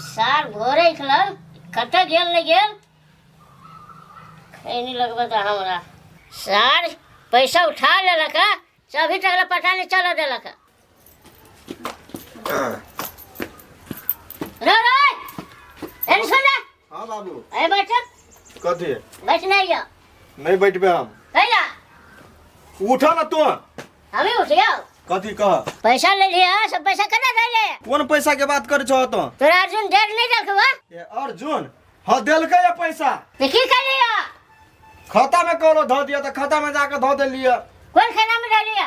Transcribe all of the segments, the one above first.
सार भोरे निकलल कतऽ गेल नहि गेल खैनी लगबऽ तऽ हमरा सार पैसा उठा लेलक हँ चौबी टकला पता नहि चलऽ देलक हँ रो रो एनी सुन हँ बाबू ए बैठ कथी बैठ नहीं जा नहीं बैठबे हम कैला उठा ना तू हम ही उठियो कथी कह पैसा ले लिया सब पैसा कना दे ले कौन पैसा के बात करे छो तो तोरा अर्जुन डर नहीं रखवा ए अर्जुन हाँ देलकै ये पैसा तो की कर लिया खाता में कौनो धो दिया तो खाता में जाके धो देलिए कौन खाना में डाल लिया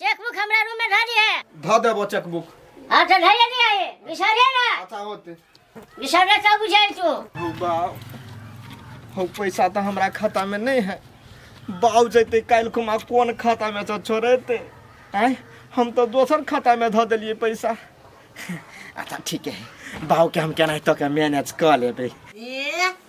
चेकबुक हमरा रूम में धऽ दिहे धऽ देबो चेकबुक हाँ तो धैले नहीं आए बिसरे ना अच्छा होते बिसरे तो बुझे तू हो बाऊ हो पैसा तऽ हमरा खाता में नहीं है बाऊ जैते काल्हि खुमा कोन खाता में से छोड़ेते आय हम तऽ दोसर खाता में धऽ देलियै पैसा अच्छा ठीक है बाऊ के हम केनाहितो के मैनेज कऽ लेबै ए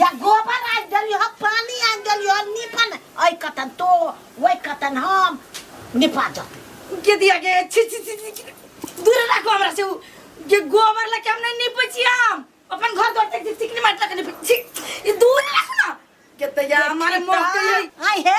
या गोबर आनि देलियो ह पानी आनि देलियो ह निपन ऐ कतन तो वै कतन हम निपा जते के दिया के छी छी छी छी, छी दूर राखो हमरा से उ के गोबर लेके हम नहीं निपै छी हम अपन घर द्वार तक चिकनी माटि लगे निपै छी ई दूर राखो ना के तैया हमारे मोह के ये- आई है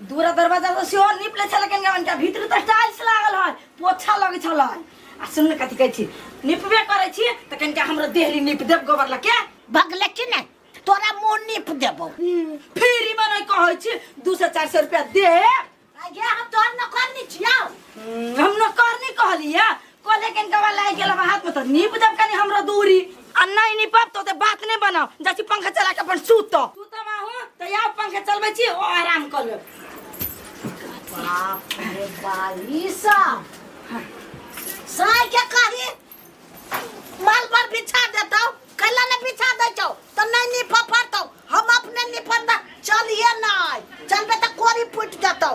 दूरा दरवाजा से सेहो नीप ले छल कनिया मनिका भीतर तऽ टाइल्स लागल है पोछा लगै छल आ सुन ने कथी कहै छी निपबे करै छी तऽ कनिका हमरो देहली नीप देब गोबर लऽ के भगले कि नहीं तोरा मुंह नीप देबो फ्री में नहीं कहै छी दू सौ चार सौ रुपया दे आगे हम तोर नौकर नहीं छियाओ हम नौकर नहीं कहलियै कोले के गवा लाई गेल बा हाथ में तो नीप देब कनी हमरा दूरी आ नहीं निपब तो ते बात नहीं बनाओ जैसे पंखा चला के अपन सूत तो तू तो माहू तो या पंखा चलबे छी ओ आराम कर ले बाप रे बाईसा साय के कही माल पर बिछा देता कैला ने बिछा दे छौ तो नहीं नी फफरतौ हम अपने नी फरता चलिए ना चलबे तो कोरी फूट जतौ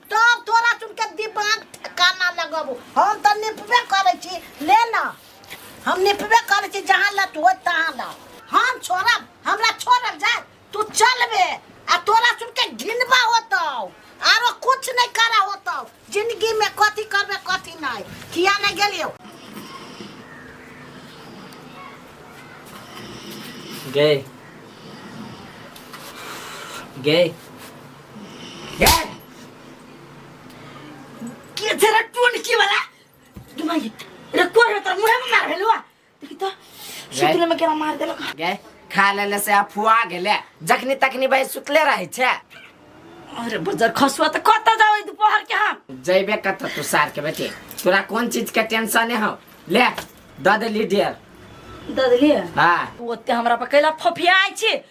तब तोरा चुन के दिमाग ठिकाना लगबो हम त निपबे करे छी ले ना हम निपबे करे छी जहां लत हो तहां ला हम छोड़ब हमरा छोड़ल जाए तू चलबे आ तोरा चुन के घिनबा होतौ आरो कुछ नहीं करा होतौ जिंदगी में कथी करबे कथी नहीं किया नहीं गेलियो गए गए यार के तेरा टोन की वाला दिमाग रे कोर रे तर मुहे में मार हेलो देखि तो सुतले में केरा मार देलक गे खा लेले से अफुआ गेले जखनी तखनी भाई सुतले रहे छे अरे बजर खसुआ त कत जावे दोपहर के हम जैबे कत तू सार के बेटे तोरा कौन चीज के टेंशन है हो ले द देली डियर ददली हाँ तू ओते हमरा पर कैला फफियाइ छी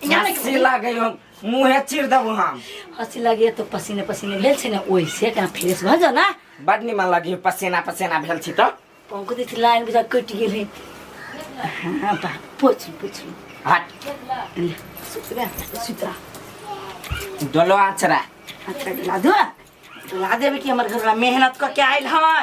यहाँ नहीं हंसी लागे हो मुंहे चिर देबो हम हंसी लगे तो पसीने पसीने भेल छै ने ओइसे कहाँ फ्रेश भऽ जाओ ना बड निमन लगी पसेना पसेना भेल छी तो पंकु दी लाइन बुझा कटि गेल है हाँ बा पोछ पोछ हट सुतरा सुतरा डोलो आचरा अच्छा ला दो ला देबे कि हमर घरवा मेहनत कऽ के आयल है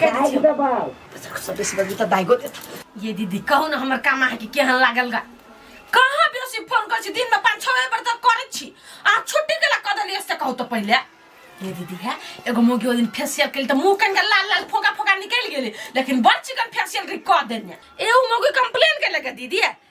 दाग दबाओ सबे से बगी त दाइगो देता ये दीदी कहू ना हमर काम अहाँ के केहन लागल गा कहाँ बेसी फोन कर छी दिन में पाँच छः बेर तक करे छी अहाँ छुट्टी के ला कह देलियै से कहू तो पहिले ये दीदी है एगो मोगी ओहि दिन फेसियल केली तऽ मुँह कनिका लाल लाल फोका फोका निकलि गेलै लेकिन बड़ चिकन फेसियल कऽ देने एगो मोगी कंप्लेन केलक दीदी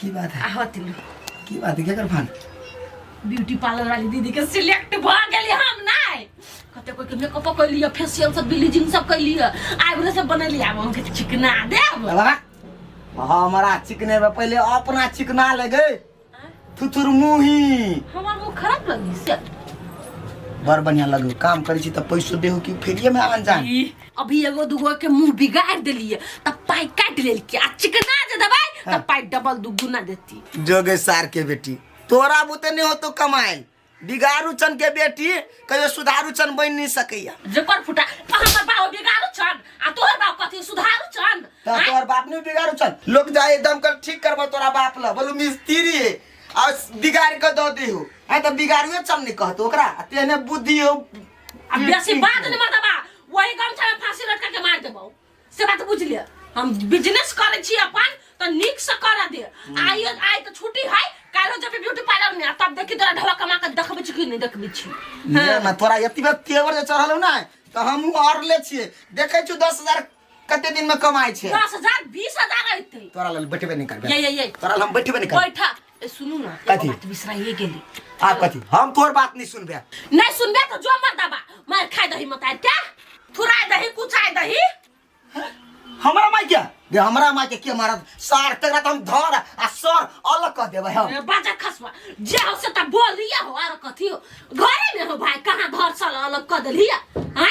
की बात है आहो तिलू की बात है केकर फान ब्यूटी पार्लर वाली दीदी के सिलेक्ट भ गेली हम नहीं कते कोई के मेकअप कैली है फेशियल सब ब्लीचिंग सब कैली है आईब्रो सब बनैली आब हम के चिकना देब बाबा हमारा चिकने में पहले अपना चिकना ले गए थुथुर मुही हमर मुंह खराब लगी से बड़ बढ़िया लगो काम करी छी त पैसो देहु कि फेरिए में आन जान ई अभी एगो दूगो के मुंह बिगाड़ देलिए तब पाई काट लेल के आ चिकना दे दबाई तब पाई डबल दुगुना देती जोगे सार के बेटी तोरा बुते नहीं हो तो कमाएल बिगारू चन के बेटी कहियो सुधारू चन बन नहीं सकैया जेकर फुटा आ हमर बाबा बिगाड़ू छन आ तोहर बाप कथी सुधारू छन तो आँय? तोहर बाप नहीं बिगाड़ू चन लोग जाए एकदम कर ठीक करबो तोरा बाप ला बोलू मिस्त्री है और बिगाड़ के दो दी हो है तो बिगाड़ुए चन नहीं कहतो ओकरा आ तेने बुद्धि हो आ बेसी बात नहीं मत बा वही गमछा में फांसी लटका के मार देबो से बात बुझ ले हम बिजनेस करे छी अपन तो निक से कर दे आई आई तो छुट्टी है कालो जब ब्यूटी पार्लर में तब देखी तोरा ढवा कमा के देखबे छी कि नहीं देखबे छी ले ना तोरा एतबे तेवर जे चढ़ल हौ ना तऽ हमहूँ आओर ले छियै देखै छियौ दस हजार कते दिन में कमाई छे दस हजार बीस हजार अयते तोरा लेल बैठबे नहीं करबे ये ये ये तोरा लेल हम बैठबे नहीं करबे बैठा ए, सुनू ना एगो कथी? बात बिसराइए गेली आप कथी हम तोर बात नहीं सुनबे नहीं सुनबे तो जो मर दबा मार खाए दही मत आए क्या थुराए दही कुचाए दही हमरा माई के बे हमरा माई के के मारत सार तकरा त हम धर आ सर अलग कर देबे हम ए, बाजा खसवा जे हो से तो बोल रही हो आर कथी हो घरे में हो भाई कहाँ धर सल अलग कर दिली है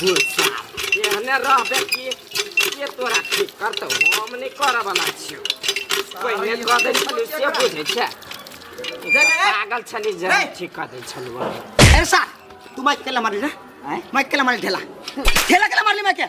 गुस्सा एहने रहबे कि के तोरा ठीक करतौ हम नहि करऽ बला छियौ पहिने कऽ दै छलियौ से बुझै छै पागल छली जे हम ठीक कऽ दै छलियौ ऐसा तू माइक केला मारली रे माइक केला मारली ढेला ढेला केला मारली माइक के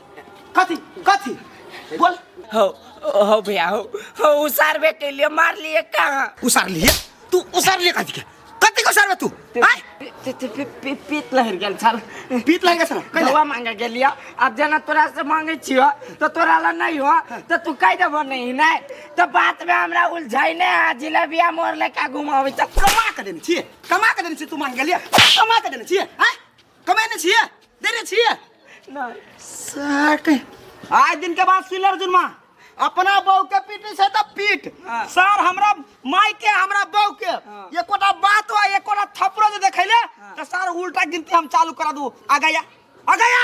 कथी कथी बोल हो हो भैया हो हो उसारबे के लिए मार लिए कहाँ उसार लिए तू उसार लिए कथी के कथी के उसारबे तू आय पी- पी- पी- पी- पी- पीत लहर गेल छल पीत लहर गेल छल, कैला? दवा मांगे गेल या अब जेना तोरा से मांगे छियो तो तोरा ला नहीं हो तो तू कह देबो नहीं नहीं तो बात में हमरा उलझाई ने आ जिलेबिया मोर लेके घुमावे छ कमा के देने छिए कमा के देने छिए तू मांग गेलिए कमा के देने छिए आय कमे ने छिए देने छिए ना साक आज दिन के बाद सिलर जुनमा अपना बहू के पीटे से त पीट हाँ। सर हमरा माई के हमरा बहू के हाँ। एकोटा बात हो एकोटा थपड़ो जे देखैले हाँ। त सर उल्टा गिनती हम चालू करा दू आ गया आ गया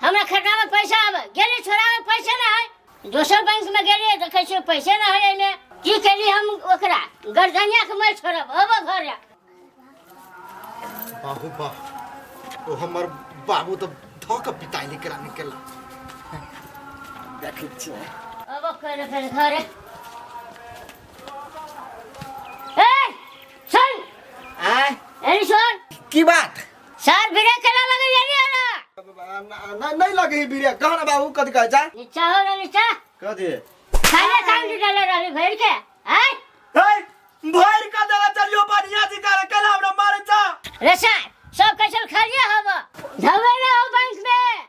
हमरा खाता में पैसा आवे गेली छोरा में पैसे ना है दोसर बैंक में गेली देखे छियै पैसे ना है एने की केली हम ओकरा गर्दनिया के मैं छोड़ब अब घर आ। बाहू बाह ओ हमर बाबू तो धक पिताई निकला निकला देखै छियै अब कर फिर घर आ। ए सुन आय एनी सुन की बात सर बिना चला लगे जानी आना नहीं नहीं लगे बीरे कहो ना बाबू कद कह जा नीचा हो ना नीचा कह दे खाना काम से डाले रही भर के आय ए भर का देला चलियो बढ़िया जी करे कला हमरा मारे जा रे सर सब कैसे खा लिया हम धवे ना हो बैंक में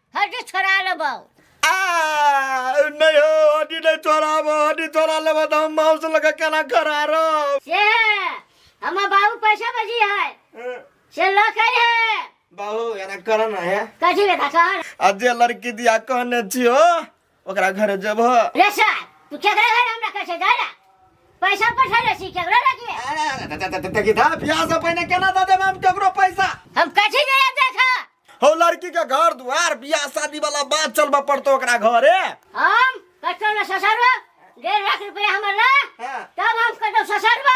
हड्डी छोड़ा लेबौ आ नहीं हो हड्डी नहीं छोड़ाब हड्डी छोड़ा लेब तो हम माँ से लगा केना करा रहो से हमर बाबू पैसा बजी है से ल कही है बाबू एना करना है कथी बेटा कह आ जे लड़की दिया कहने छी हो ओकरा घर जब रे सर तू केकरा घर हमरा कहै छै जाय रे पैसा पठा रे सी केकरा रखिए देखी था बियाह से पहले केना दे देब हम केकरो पैसा हम कथी जे देखा हो लड़की के घर दुआर बियाह शादी वाला बात चलबा पड़तो ओकरा घरे हम कटो ना ससरवा डेढ़ लाख रुपया हमर ना हाँ। तब हम कटो ससरवा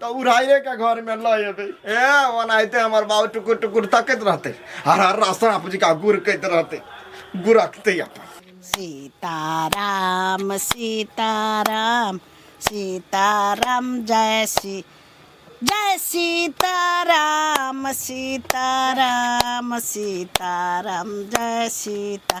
तो उड़ाइए के घर में ल एबे ए ओनाहिते हमर बाबू टुकुर टुकुर तकैत रहते हर हर रास्ता बाबूजी का गुर कहते रहते गुरकते अपन सीताराम सीताराम सीताराम जय श्री जय सीताराम सीताराम सीताराम जय सीता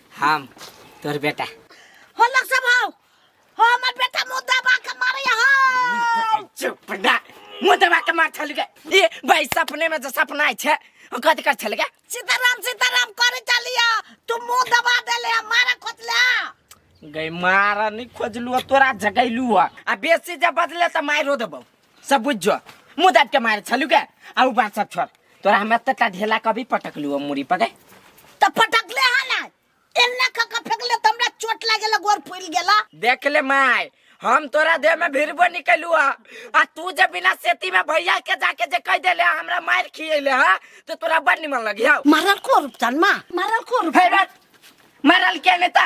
हम तोर बेटा हो लग सब हो हो हमर बेटा मुंह दबा के मारे हो चुप ना मुंह दबा के मार छल के ए भाई सपने में जो सपना आइ छै ओ कथि कर छल के सीताराम सीताराम करे चलिया तू मुंह दबा देले मारे खोतला गई मारा नहीं खोजलू तोरा जगैलू आ बेसी जब बदले त मारो देबौ सब बुझ जो मुँह दाब के मारे छलू के आउ बात सब छोड़ तोरा हम एते टा ढेला कभी पटक लू मुड़ी पके त पटक ले हा ना एन्ना क क फेकले त हमरा चोट लागेला गोर फूल गेला देख ले माय हम तोरा देह में भिरबो निकलू आ आ तू जे बिना सेती में भैया के जाके जे कह देले हमरा मार खिएले हा तो तोरा बड़ निमन लगी हौ मारल को रुपचान मा मारल को रुप फेर बात, मरल के नेता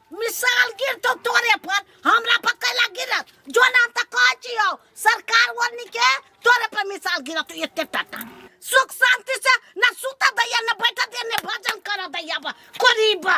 मिसाल गिरतो तोरे पर हमरा पर कैला गिरत जो नाम त कह जियो सरकार वरनी के तोरे पर मिसाल गिरत तो एते टाटा सुख शांति से न सुता दैया न बैठा दे न भजन कर दैया बा करीबा